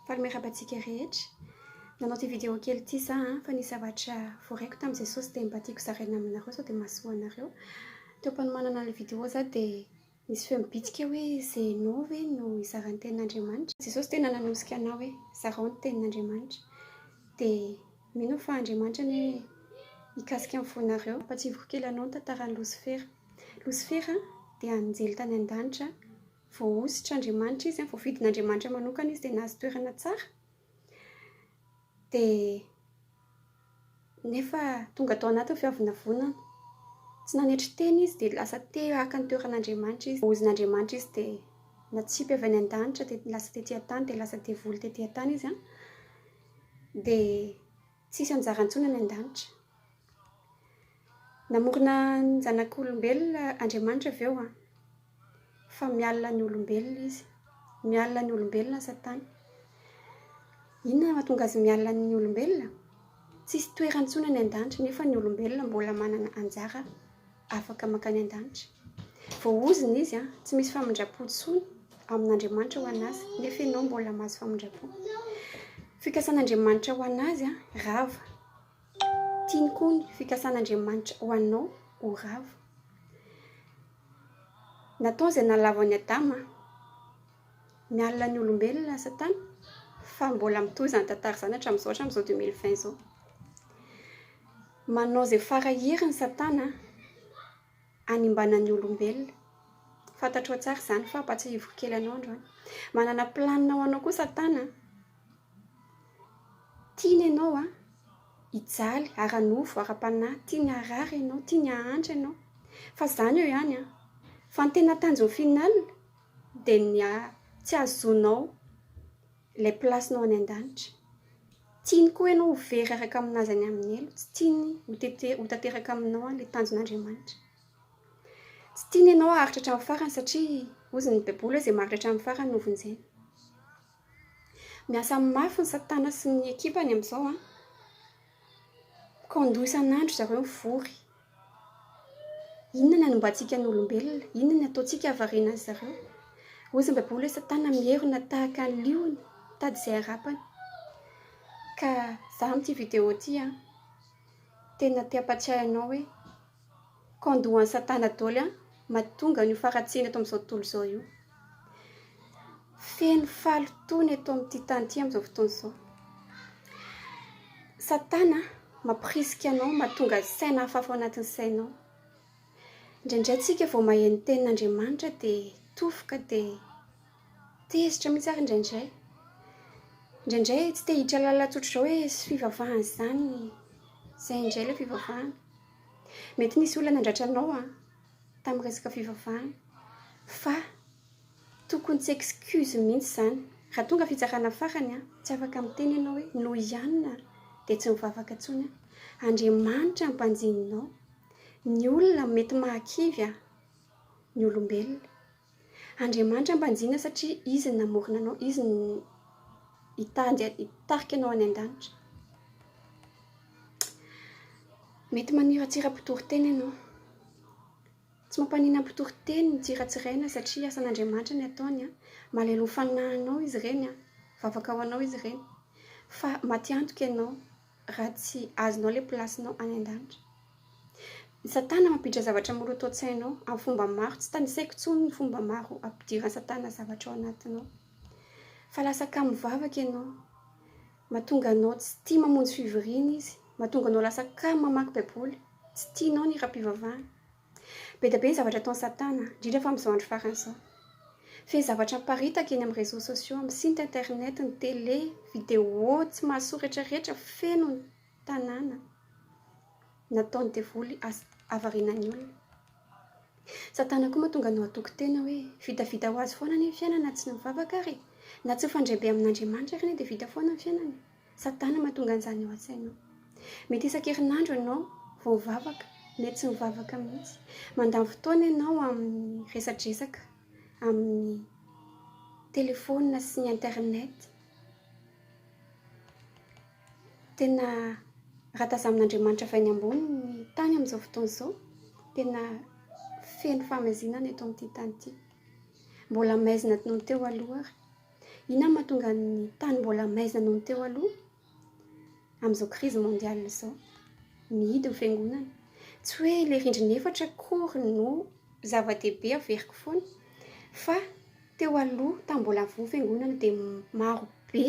Faly miarahaba antsika rehetra. Nanao ity vidéo kely ity za fa nisy zavatra voaraiko tamin'i Jesosy dia mba tiako zaraina aminareo sao dia mahasoa anareo. Teo am-panomanana ilay vidéo za dia nisy feo nibitsika hoe Zeno ve no hizara ny tenin'Andriamanitra? Jesosy tena nanosika anah hoe zarao ny tenin'Andriamanitra. Dia mino aho fa Andriamanitra anie hikasika ny fonareo. Hampahatsiahiviko kely anao ny tantaran'i Losifera. Losifera dia anjely tany an-danitra, voahosotr' Andriamanitra izy, voafidin' Andriamanitra manokana izy dia nahazo toerana tsara, dia nefa tonga tao anatin'ny fiavonavonana, tsy nanetry tena izy dia lasa te haka ny toeran' Andriamanitra izy, voahozin' Andriamanitra izy dia natsipy avy any an-danitra dia lasa tety an-tany, dia lasa devoly tety an-tany izy an, dia Tsisy anjara ntsony any an-danitra. Namorona ny zanak'olombelona Andriamanitra ve hoa? Fa mialona ny olombelona Izy. Mialona ny olombelona Satana. Inona no mahatonga azy mialona ny olombelona? Tsisy toerany ntsony any an-danitra, nefa ny olombelona mbola manana anjara. afaka mankany an-danitra. Voaozona izy, tsy misy famindram-po intsony amin'Andriamanitra ho an'azy, nefa ianao mbola mahazo famindram-po. Fikasan'Andriamanitra ho an'azy rava. Tiany koa ny fikasan'Andriamanitra ho anao ho rava. Natao izay nalavo an'i Adama, miala ny olombelona Satana, fa mbola mitohy izany tantara izany hatramin'izao, hatramin'izao 2020 izao. Manao izay fara heriny satana hanimbana ny olombelona. Fantatrao tsara izany fa hampatsiahiviko kely anao androany. Manana planina ho anao koa satana. Tiany ianao hijaly ara-nofo, ara-panahy. Tiany haharary ianao, tiany hahantra ianao. Fa izany eo ihany an! Fa ny tena tanjony final dia ny tsy hahazoanao Ilay place-nao any an-danitra. Tiany koa ianao ho very araka amin'Azy any amin'ny helo. Tsy tiany ho tete, ho tanteraka aminao ilay tanjon'Andriamanitra. Tsy tiany ianao haharitra hatramin'ny farany satria hozy ny Baiboly hoe izay maharitra hatramin'ny farany no vonjena. Miasa mafy ny Satana sy ny ekipany amin'izao an. Mikondo isan'andro zareo mivory. Inona ny anombantsika ny olombelona? Inona ny ataontsika hahavariana an-dry zareo? Hoy ny Baiboly hoe Satana mierona tahaka ny liona mitady izay harapany. Ka izaho amin'ity video ity, tena te hampatsiahy anao hoe. Con doha an'i satana doly an! Mahatonga an'io faharatsiana eto amin'izao tontolo izao io. Feno fahalotoa ny eto amin'ity tany ity amin'izao fotoana izao. Satana mampirisika anao mahatonga saina hafahafa ao anatin'ny sainao. Indraindray tsika vao mahay ny tenin'Andriamanitra dia tofoka dia tezitra mihitsy ary indraindray. Indraindray tsy te hiditra lalana tsotra izao hoe fivavahana izany. Izay indray ilay fivavahana. Mety nisy olona nandratra anao an, tamin'ny resaka fivavahana. Fa tokony tsy excuse mihitsy izany. Raha tonga fitsarana farany an, tsy afaka miteny ianao hoe noho ihany aho dia tsy mivavaka intsony an. Andriamanitra ampanjinina ao. Ny olona mety mahakivy an, ny olombelona. Andriamanitra mpanjinga satria Izy no namorona anao, Izy no hitady hitarika anao any an-danitra. Mety maniratsira mpitory teny ianao. Tsy mampanina mpitory teny ny tsiratsiraina satria asan'Andriamanitra ny ataony. Malahelo ho fanahinao izy ireny, vavaka ho anao izy ireny. Fa matiantoka ianao, raha tsy azonao ilay plasinao any an-danitra. Ny Satana mampiditra zavatra maloto an-tsainao amin'ny fomba maro. Tsy tanisaiko intsony ny fomba maro ampidiran'ny Satana zavatra ao anatinao. Fa lasa kamo vavaka ianao. Mahatonga anao tsy tia mamonjy fivoriana izy. Mahatonga anao lasa kamo mamaky Baiboly. Tsy tianao ny hiram-pivavahana. Be dia be ny zavatra ataon'i Satana, indrindra fa amin'izao andro farany izao. Feno zavatra miparitaka eny amin'ny réseaux sociaux, amin'ny site internet, ny télé, vidéo tsy mahasoa retraretra feno ny tanàna. Nataon'ny devoly asa havariana ny olona. Satana koa mahatonga anao hatoky tena hoe vitavita ho azy foana anie ny fiainana na tsy ny mivavaka ary e. Na tsy mifandray be amin'Andriamanitra ary anie dia vita foana ny fiainana e. Satana no mahatonga an'izany ao an-tsainao. Mety isan-kerinandro ianao vao mivavaka, mety tsy mivavaka mihitsy. Mandany fotoana ianao amin'ny resadresaka, amin'ny telefaonina sy ny internet. Tena ratazamin'Andriamanitra avy any ambony ny tany amin'izao fotoana izao. Tena feno fahamazinana eto amin'ity tany ity. Mbola maizina noho ny teo aloha ary. Inona no mahatonga ny tany mbola maizina noho ny teo aloha amin'izao crise mondiale izao? Mihidy ny fiangonana. Tsy hoe ilay rindrina efatra akory no zava-dehibe averiko foana fa teo aloha tamin'ny mbola voa ny fiangonana dia marobe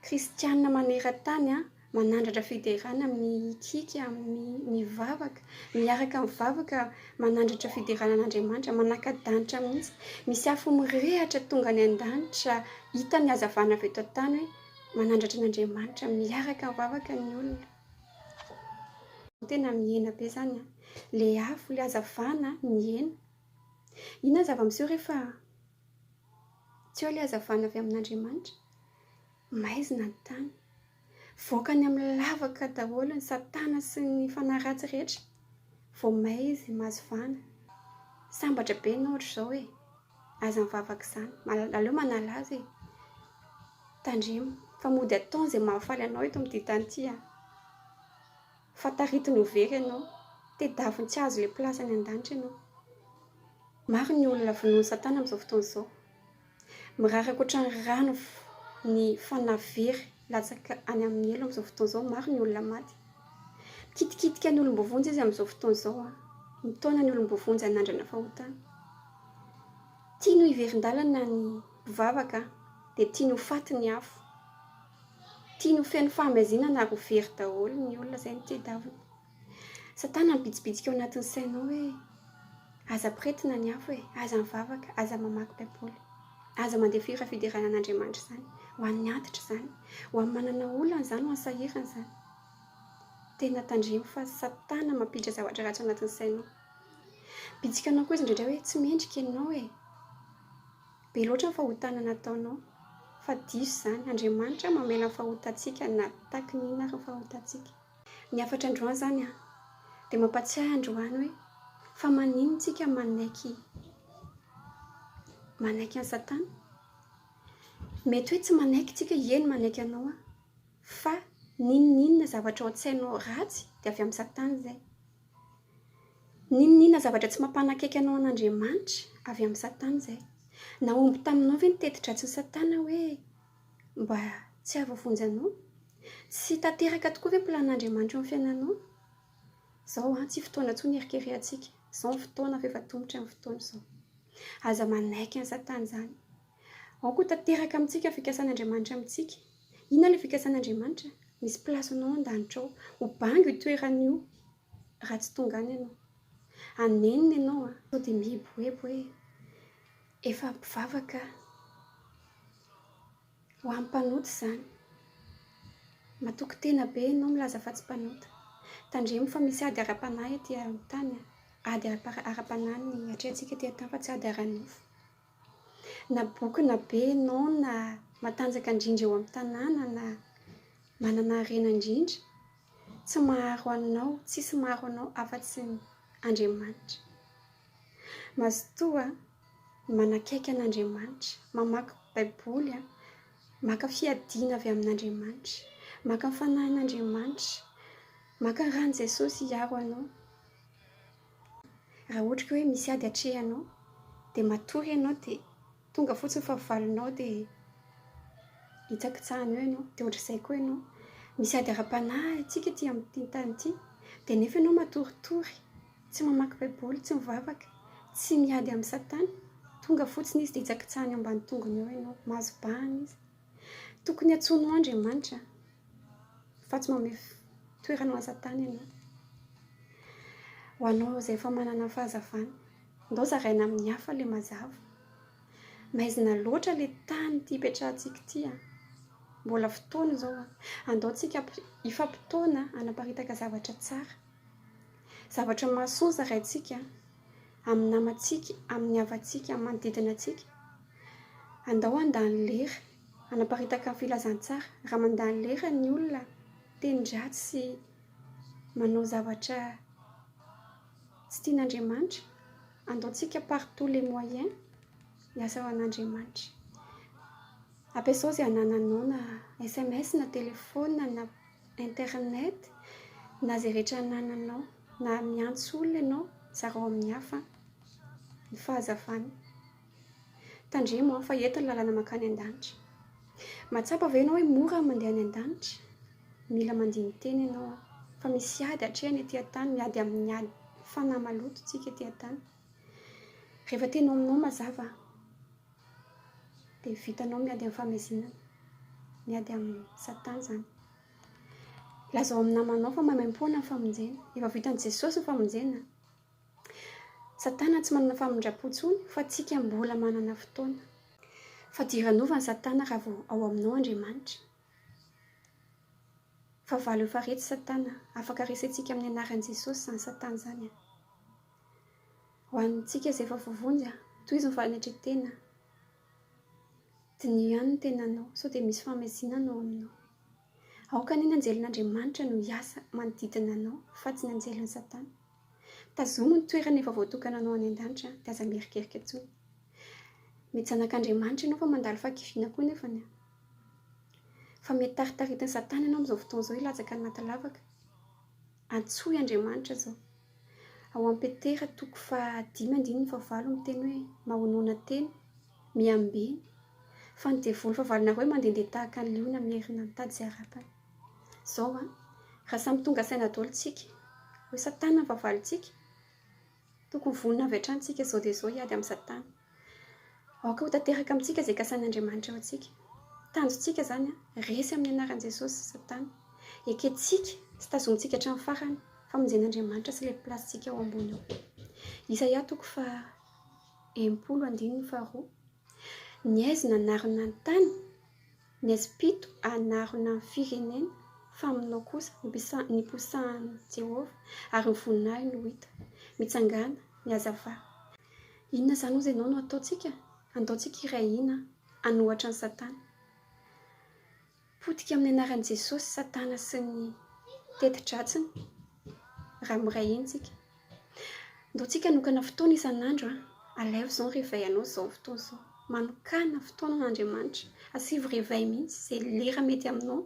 kristiana maneran-tany Manandratra fiderana mihitsiky amin'ny mivavaka, miaraka mivavaka manandratra fiderana an'Andriamanitra, manaka-danitra mihitsy. Misy afo mirehatra tonga any an-danitra, hita ny hazavana avy eto an-tany hoe manandratra an'Andriamanitra, miaraka mivavaka ny olona. Tena mihena be izany an! Ilay afo, ilay hazavana mihena. Inona ny zava-miseho rehefa tsy eo ilay hazavana avy amin'Andriamanitra? Maizina ny tany. Voaka any amin'ny lavaka daholo ny satana sy ny fanahy ratsy rehetra. Vao may izy mahazo vahana. Sambatra be ny ohatra izao e! Aza mivavaka izany. Aleo manala azy e! Tandremo fa mody ataony izay mahafaly anao eto amin'ity tany ity an! Fa taritiny ho very ianao. Tedaviny tsy hahazo ilay place any an-danitra ianao. Maro ny olona vonoin'ny satana amin'izao fotoana izao. Mirary ankoatran'ny ry rano ny fanahy very latsaka any amin'ny helo amin'izao fotoana izao. Maro ny olona maty. Mikitikitika ny olom-boavonjy izy amin'izao fotoana izao. Mitaona ny olom-boavonjy hanandrana fahotana. Tiany ho hiverin-dalana ny mpivavaka dia tiany ho faty ny afo. Tiany ho feno fahamaizina na ary ho very daholo ny olona izay no tedavina. Satana mibitsibitsika ao anatin'ny sainao hoe, Aza ampirehetina ny afo e! Aza mivavaka, aza mamaky Baiboly. Aza mandeha fihira fiderana an'Andriamanitra izany. Ho an'ny antitra izany. Ho an'ny manana olana izany, ho an'ny sahirana izany. Tena tandremo fa Satana mampiditra zavatra ratsy ao anatin'ny sainao. Bitsika anao koa izy indraindray hoe, Tsy mendrika ianao e! Be loatra ny fahotana nataonao. Fa diso izany. Andriamanitra mamela ny fahotantsika na takin'inona ary ny fahotantsika. Ny hafatra androany zany an, dia mampatsiahy androany hoe fa manin tsika manaiky manaiky an'i satana? Mety hoe tsy manaiky tsika, eny manaiky anao aho, fa n'inon'inona zavatra ao an-tsainao ratsy dia avy amin'i satana izay. N'inon'inona zavatra tsy mampanakaiky anao an'Andriamanitra, avy amin'i satana izay. Nahomby taminao ve ny teti-dratsin'i satana hoe Mba tsy hahavoavonjy anao? Tsy tanteraka tokoa ve ny plan'Andriamanitra eo amin'ny fiainanao? Izao an, tsy fotoana intsony hierikerehantsika. Izao ny fotoana fa efa tomotra ny fotoana izao. Aza manaiky an'i Satana izany. Ao koa tanteraka amintsika ny fikasan'Andriamanitra amintsika. Inona ilay fikasan'Andriamanitra? Misy place anao an-danitra ao. Ho bango io toerana io raha tsy tonga any ianao. Hanenina ianao an! Sao dia mieboebo hoe. Efa mpivavaka ho an'ny mpanota izany. Matoky tena be ianao milaza fa tsy mpanota. Tandremo fa misy ady ara-panahy aty amin'ny tany an. Ady ara-panahy ny atrehantsika aty an-tany fa tsy ady ara-nofo. Na bokona be ianao na matanjaka indrindra eo amin'ny tanàna na manana harena indrindra Tsy maharo anao, tsisy maharo anao afa-tsy ny Andriamanitra. Mazotoa manakaiky an'Andriamanitra, mamaky baiboly, maka fiadiana avy amin'Andriamanitra, maka ny fanahin'Andriamanitra, maka ny ran'i Jesosy hiaro anao. Raha ohatra ka hoe misy ady atrehanao dia matory ianao dia. Tonga fotsiny fa valinao dia hitsakitsahina eo ianao, dia ohatr'izay koa ianao. Misy ady ara-panahy antsika ety amin'ity tany ity, dia nefa ianao matoritory, tsy mamaky Baiboly, tsy mivavaka, tsy miady amin'i Satana. Tonga fotsiny izy dia hitsakitsahina eo ambany tongony eo ianao, mahazo bahana izy. Tokony antsoina ho Andriamanitra fa tsy manome toerana ho an'i Satana ianao. Ho anao izay efa manana fahazavana, andao zaraina amin'ny hafa ilay mazava. Maizina loatra ilay tany ity ipetrahantsika ity. Mbola fotoana izao. Andao tsika hifampitaona hanaparitaka zavatra tsara. Zavatra mahasoa zaraintsika. amin'ny namantsika, amin'ny havantsika, amin'ny manodidina antsika. Andao handany lera hanaparitaka ny filazantsara. Raha mandany lera ny olona miteny ratsy sy manao zavatra tsy tian'Andriamanitra, andaontsika par tous les moyens hiasa ho an'Andriamanitra. Ampiasao izay anananao na sms na telefaonina na. Internet, na izay rehetra anananao, na miantso olona ianao, zarao amin'ny hafa ny fahazavana. Tandremo an, fa eto ny lalana mankany an-danitra. Mahatsapa ve ianao hoe mora ny mandeha any an-danitra? Mila mandini-tena ianao an, fa misy ady hatrehina ety an-tany, miady amin'ny ady fanahy maloto isika ety an-tany. Rehefa teny ao aminao mazava. Dia vitanao miady amin'ny famezinana. Miady amin'ny Satan izany. Lazao amin'ny namanao fa maimaim-poana ny famonjena. Efa vitan'i Jesosy ny famonjena. Satana tsy manana famindram-po intsony fa antsika mbola manana fotoana. Fa dia ivanova ny Satana raha vao ao aminao Andriamanitra. Fa valo efa retsy Satana. Afaka resentsika amin'ny anaran'i Jesosy izany Satana izany. Ho antsika izay efa voavonjy, tohizo ny fanetren-tena, diniho ihany ny tenanao sao dia misy famezinana ao aminao. Aoka anie ny anjelin'Andriamanitra no hiasa manodidina anao fa tsy ny anjelin'i Satana. Tazomo ny toerana efa voatokananao any an-danitra dia aza mierikerika intsony. Mety zanak'Andriamanitra ianao fa mandalo fahakiviana koa nefany. Fa mety taritaritin'i Satana ianao amin'izao fotoana izao hilatsaka anaty lavaka. Antsoy Andriamanitra zao. Ao amin'i Petera toko faha dimy andininy faha valo miteny hoe mahonona tena, miambena, fa ny devoly fahavalonareo hoe mandendeha tahaka ny liona mierina mitady izay harapany. Zao an, raha samy tonga saina daholo tsika, hoe satana ny fahavalontsika, Tokony vonona avy hatrany isika izao dia izao hiady amin'i Satana. Aoka ho tanteraka amintsika izay kasain'Andriamanitra eo antsika. Tanjontsika izany, resy amin'ny anaran'i Jesosy Satana. Ekentsika sy tazomintsika hatramin'ny farany famonjen'Andriamanitra sy ilay mpilatsintsika ao ambony eo. Isaia toko faha enimpolo andininy faharoa. Ny aizy nanarona ny tany, ny aizy pito hanarona ny firenena, fa aminao kosa niposahan'i Jehovah, ary ny voninahiny ho hita. Mitsangàna ny hazavà. Inona izany hozy ianao no hataontsika? Andaontsika hiray hina hanohatra an'i Satana. Potika amin'ny anaran'i Jesosy Satana sy ny teti-dratsiny raha miray hina isika. Andaontsika hanokana fotoana isan'andro, alaivo izao ny réveil anao izao fotoana izao. Manokana fotoana ho an'Andriamanitra. Asivo réveil mihitsy izay lera mety aminao,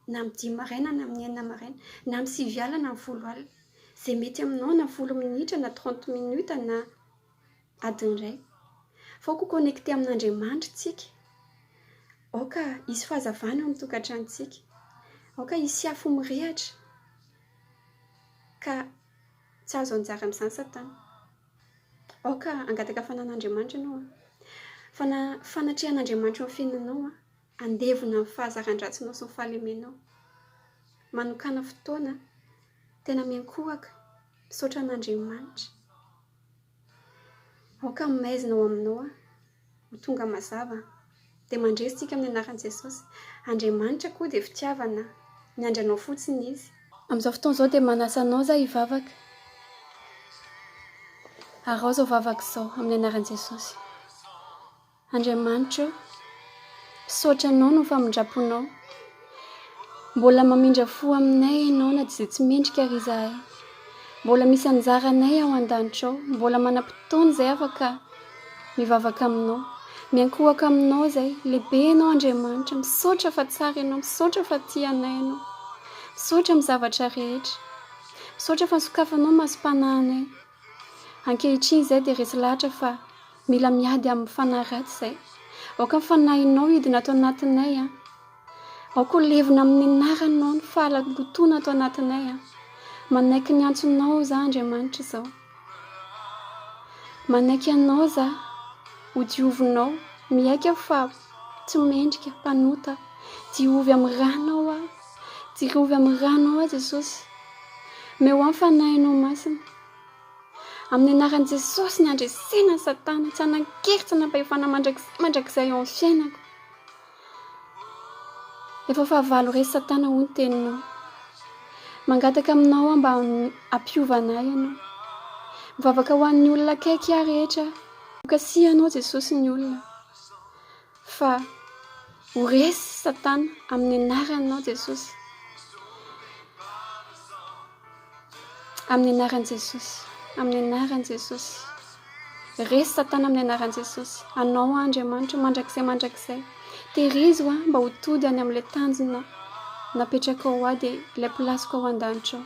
na amin'ny dimy maraina na amin'ny enina maraina, na amin'ny sivy alina na amin'ny folo alina. Izay mety aminao na folo minitra na trente minutes na. Adiny iray. Fa aoka ho connecté amin'Andriamanitra isika. Aoka hisy fahazavana eo amin'ny tokantranontsika. Aoka hisy afo mirehatra. Ka tsy hahazo anjara amin'izany Satana. Aoka hangataka fananan'Andriamanitra ianao. Fa na fanatrehan'Andriamanitra eo amin'ny fiainanao an. Handevona ny fahazaran-dratsinao sy ny fahalemenao. Manokana fotoana tena miankohoka misaotra an'Andriamanitra. Aoka ny maizina ao aminao ho tonga mazava, dia mandresy tsika amin'ny anaran'i Jesosy. Andriamanitra koa dia fitiavana, miandry anao fotsiny Izy. Amin'izao fotoana izao dia manasa anao za hivavaka, araho izao vavaka izao amin'ny anaran'i Jesosy. Andriamanitra o! Misaotra Anao noho ny famindraponao. Mbola mamindra fo aminay Ianao na dia tsy mendrika àry izahay. Mbola misy anjara anay ao an-danitra ao. Mbola manam-potoana izay afaka mivavaka Aminao. Miankohoka Aminao izay. Lehibe Ianao Andriamanitra. Misaotra fa tsara Ianao. Misaotra fa tia anay Ianao. Misaotra amin'ny zavatra rehetra. Misaotra fa nosokafanao ny masom-panahinay. Ankehitriny izay dia resy lahatra fa Mila miady amin'ny fanahy ratsy izay. Aoka ny fanahinao hidina ato anatinay an. Aoka ho levona amin'ny anaranao ny fahalalotona ato anatinay an. Manaiky ny antsonao za Andriamanitra izao. Manaiky anao za ho diovinao. Miaiky aho fa tsy mendrika, mpanota aho. Diovy amin'ny ranao aho. Diovy amin'ny ranao aho Jesosy. Meo ahy ny fanahinao masina. Amin'ny anaran'i Jesosy ny handresena an'i Satana, tsy hanan-kery, tsy hanam-pahefana mandrakizay mandrakizay eo amin'ny fiainako. Efa fahavalo resy Satana hoy ny teninao. Mangataka aminao aho mba hampiova anay ianao. Mivavaka ho an'ny olona akaiky ahy rehetra aho. Hokasihanao Jesosy ny olona. Fa ho resy satana amin'ny anaranao Jesosy. Amin'ny anaran'i Jesosy. Amin'ny anaran'i Jesosy. Resy satana amin'ny anaran'i Jesosy. Anao aho Andriamanitra mandrakizay mandrakizay. Terizo aho mba ho tody any amin'ilay tanjona napetrakao ho ahy dia ilay place-ko ao an-danitra ao.